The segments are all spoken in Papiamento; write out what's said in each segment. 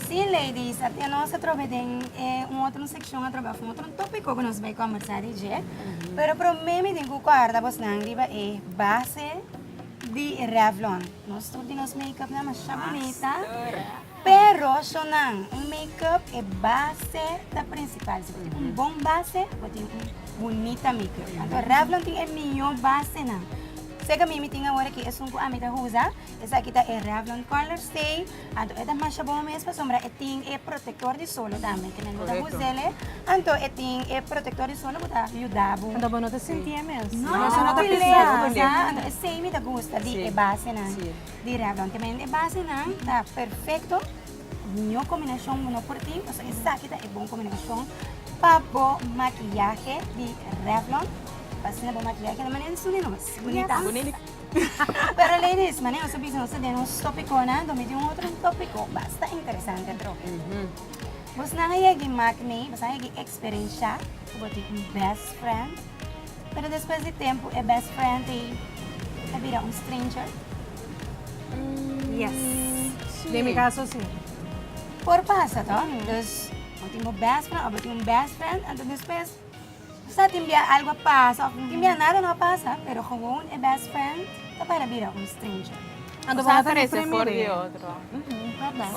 Sí, ladies, até nos a trobe den e un otro seccion a trobe of un otro tópico cu nos bay conversa di dje. Pero promé mi tin cu cuarda bosnan riba e base di Revlon. Nos tur di nos make-upnan masha bunita. Pero shownan, un make-up e base ta principal. Si bo tin un bon base, bo tin un bunita make-up. Anto Revlon tin e mihó basenan. Seca mi mi tin awor aki esun cu ami ta usa. Esaki ta e Revlon Color Stay, anto e ta masha bon mes pasobra e tin e protektor di solo tambe, kimen bo ta hus'el e, anto e tin e protektor di solo ku ta yuda bo. Anto bo no ta sinti e mes. No, no ta peleá, sa, anto esei mi ta gusta di e basenan di Revlon, kimen e basenan ta perfekto, ningún kombinashon no por tin, pasobra esaki ta e bon kombinashon pa bo makiyahe di Revlon, pa asina bo makiyahe keda manera di suli nos. Bunita. Pero ladies, mane nos ta bisa nos ta den un stopiconan, do mi tin un otro topico basta interesante droge. Bosnan a yegi mak nei, bosnan a yegi experensha cu bo tin un best friend, pero despues di tempo e best friend ei a bira un stranger? Yes, den mi caso si. Por pasa toh, dus bo tin bo best friend, of bo tin un best friend, anto despues. Sa tin bia algo a pasa of tin bia nada no a pasa pero gewoon e best friend ta para bira un stranger. Bo ta krese for di e otro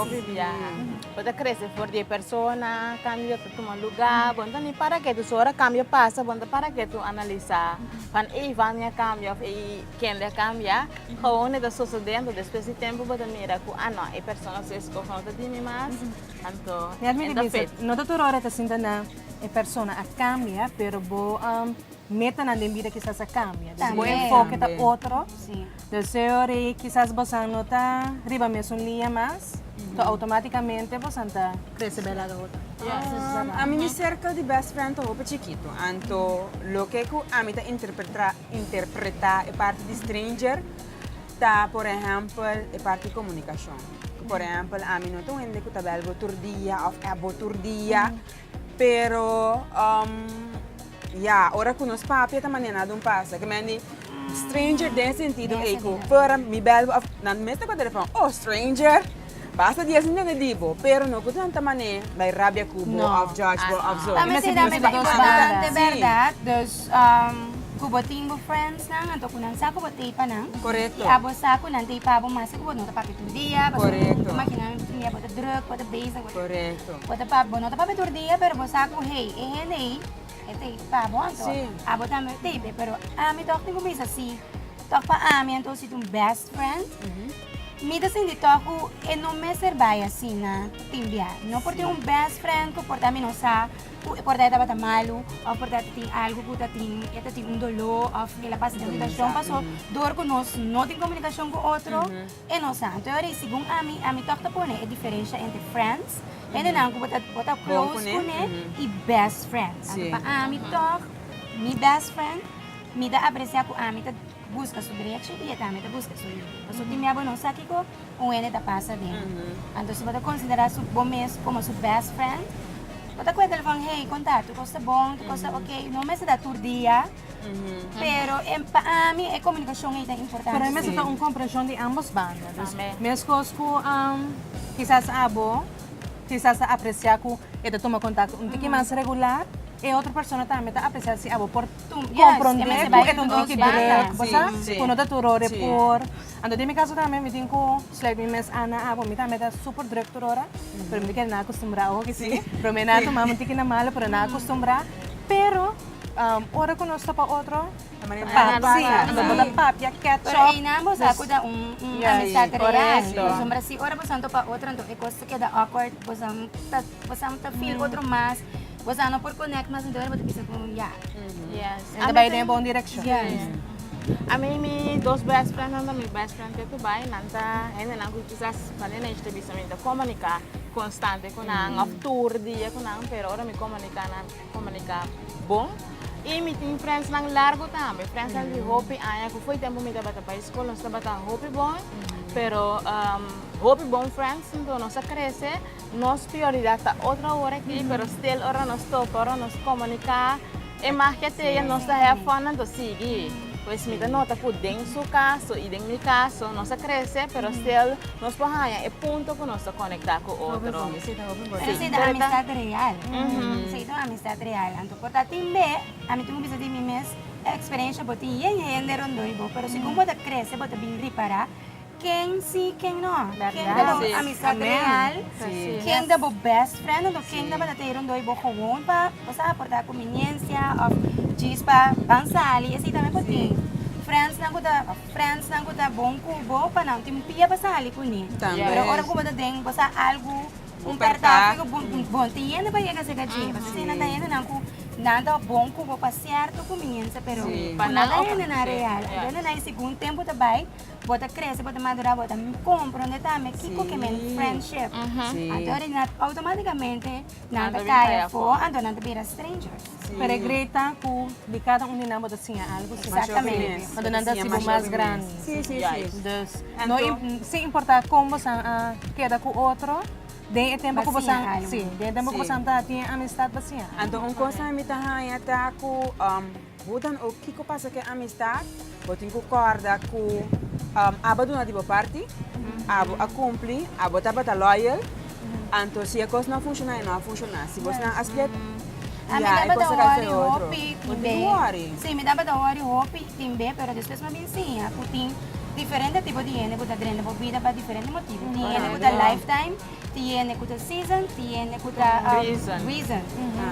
of e biaha bo ta krese for di e persona cambio ta tuma luga bo no ta ni para ketu so ora cambio pasa bo no ta para ketu analisa pan ey Vania a cambia of ey Kenley a cambia gewoon e ta sosode anto despues di tempo bo ta mira cu ah no e persona su escoge no ta di mi mas anto e no ta fit. No ta tur ora e ta sinta na e persona a cambia pero bo meta nan den bida kisas a cambia dus bo enfoke ta otro dus ori kisas bosan no ta riba mesun lia mas so automaticamente bosan ta crece bel laga otro. A mi mi circle di best friend ta hopi chikito anto loke cu ami ta interpreta e parti di stranger Ta por ehèmpel e parti komunikashon. Por ehèmpel ami no ta un hende ku ta bèl bo tur dia òf ap bo tur dia. Pero ya, ora ku nos papia ta manera dun pasa ke mi a di stranger den sentido ei ku mi bèl bo òf nan mi ta kobra di refren, oh stranger! Basta di esnan dende di bo, pero no ku tanta manera bai rabia ku bo òf judge bo òf so. Ta mester tambe ta importante bèrdat, dus ku bo tin bo friendsnan anto ku nan sa ku bo t'ei pa nan i abo sa ku nan t'ei pa bo maske ku bo no ta papia tur dia pasobra bo ta imagina nan tin dia bo ta druk, bo ta bezig, bo ta bo no ta papia tur dia pero bo sa ku hey e hende ei e t'ei pa bo anto abo tambe t'ei p'e pero ami tòg tin ku bisa si tòg pa ami anto si t'un best friend. Mi ta sinti tok ku e no mester bai asina tin bia. No por tin un best friend ku por ta mi no sa ku e por ta e tabata malu òf por ta e tin algu ku ta tin e ta tin un doló òf el a pasa den un situashon. Paso dor ku nos no tin komunikashon ku otro e no sa. Anto yori segun ami, ami tòg ta pone e diferensha entre friends, hendenan ku bo ta bo ta close kuné i best friends. Anto pa ami tòg mi best friend mi ta apresiá ku ami ta. Busca su drechi y e tambe ta busca su libre. Paso tin mia bo no sa kico un hende ta pasa den. Anto si bo ta considera su bo mes como su best friend, bo ta cu e telefon, hey, con ta? Tu cos ta bon? Tu cos ta ok? No mester ta tur dia, pero e pa ami e comunicacion ey ta importante. Pero ey mester ta un comprension di ambos banda. Dus mescos cu kisas abo kisas ta aprecia cu e ta tuma contacto un tiki mas regular, e otro persona tambe ta aprecia si abo por. Comprende cu e ta un toki druk, bo sa? Cu no ta tur ora e por. Anto den mi caso tambe, mi tin cu sluit mi mes an na awo. Mi tambe ta super druk tur ora, pero mi no kere nan acostumbrá awo aki si. Prome nan a tuma mi un tiki na malo, pero nan a acostumbrá. Pero ora cu nos topa otro, anto bo ta papia ketchup. Corecto. Pues a no por connect mas entonces bo ta bisa cu ya. Yes. Enta bay den bon direccion. Yes. Ami mi dos best friend nan ta mi best friend te cu bay. Nan ta hende nan cu kisas pa den age ta bisa mi ta comunica constante cu nan of tur dia cu nan pero ora mi comunica nan comunica bon. Y mi tin friends nan largo tambe. Friends nan di hopi aña cu fo'i tempo mi tabata pa escol nos tabata hopi bon pero hopi bon friends entonces nos a crece Nos prioridat ta otro awor aki, pero stil ora nos toca, ora nos comunica e magia te'e nos ta hef for nan ta sigui. Pues mi ta nota cu den su caso y den mi caso nos a crece, pero stil nos por haya e punto cu nos ta conecta cu otro. Pero esey ta amistad real, esey ta un amistad real. Anto por ta tin be, ami tin cu bisa di mi mes, e experiencia bo tin yen hende rondoi bo, pero segun bo ta crece bo ta bin repara. Ken si, ken no. Ken ta bo amisat real, ken ta bo best friend ando ken ta batatero ando y bo gewoon pa bo sa porta cu minencia of djis pa ban sali. Así tambe bo tin friendsnan cu ta, of friendsnan cu ta bon cu bo pa nan tin pia pa sali cune. Pero ora cu bo ta den, bo sa algo, un percance cu bo, bo tin yende pa yega ceca dje. Pasobra esey nan ta hendenan cu nan ta bon cu bo pa cierto cuminencia pero cu nan ta hendenan real. Anto hendenan y segun tempo ta bay. bo ta crece bo ta madura bo ta comprende tambe kiko ke men friendship anto originan automaticamente nan ta kaya afo anto nan ta bira strangers pero e great ta cu di cada un di nan bo ta siña algo cu bo ta bini anto nan ta haci bo mas grandi dus no sin importa con bosan a keda cu otro den e tempo cu bosan si den e tempo cu bosan ta tin e amistad bo siña algo anto un cosa mi ta haña ta cu. Hoe dan ook kiko pasa ke amistad, bo tin ku kòrda ku abo a duna di bo parti, abo a kumpli, abo tabata loyal, anto si e kos no a funshoná e no a funshoná. Si bosnan a split, ya e kos ta kai for e otro. Bo tin ku wòri. Sí, mi tabata wòri hopi timbe, pero despues mi a bin siña ku tin diferente tipo di hende ku ta drenta bo bida pa diferente motibu. Tin hende ku ta lifetime. Tiene ku ta season, tiene ku ta reason.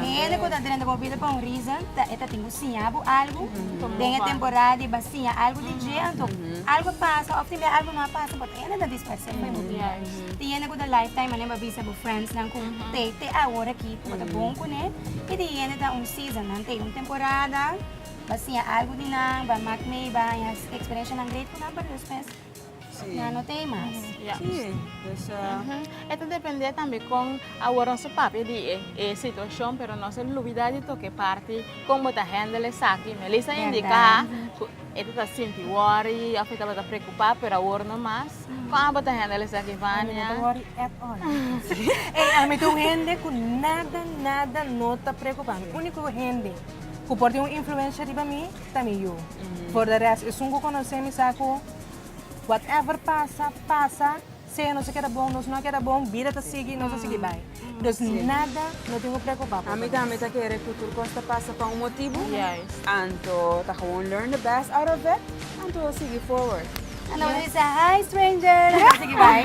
E hende ku ta drenta bobida pa un reason e ta tin ku siña bo algu den e temporada di ba siña algu di dje. Anto algu a pasa òf también algu no a pasa bot e hende ta disparse pa e mundia. Tiene ku ta life time mané bo a bisa bo friendsnan ku te te awor aki bo ta bon kuné. I tin hende ta un season nan te un temporada ba siña algu di nan ba mak mei ba haña experiencianan great ku nan pero despues. Sí. Nan no tei mas. Ya. Sí, dus eh, Ujú. E ta depende tambe kon awor nos a papia di e, e situacion, pero nos a lubida di toke parti kon bo ta handle esaki. Melissa a indica Berdad. cu e tabata sinti worry of e tabata preocupa, pero awor no mas. Kon abo ta handle esaki, Ami no Vania? ta worry at all. Ey, ami ta un hende cu nada, nada no ta preocupa mi. Unico hende cu por tin un influencia riba mi, ta mi yu. Por de rest esun cu conoce mi sa cu whatever pasa, pasa, sea nos a keda bon, nos no a keda bon, bida ta sigui, nos a sigui bay. Dus nada no tin cu preocupa por mi. Ami ta kere cu tur cos ta pasa pa un motibu, anto ta gewoon learn the best out of it, anto sigui forward. Anto nos a dice hi stranger, nos a sigui bay.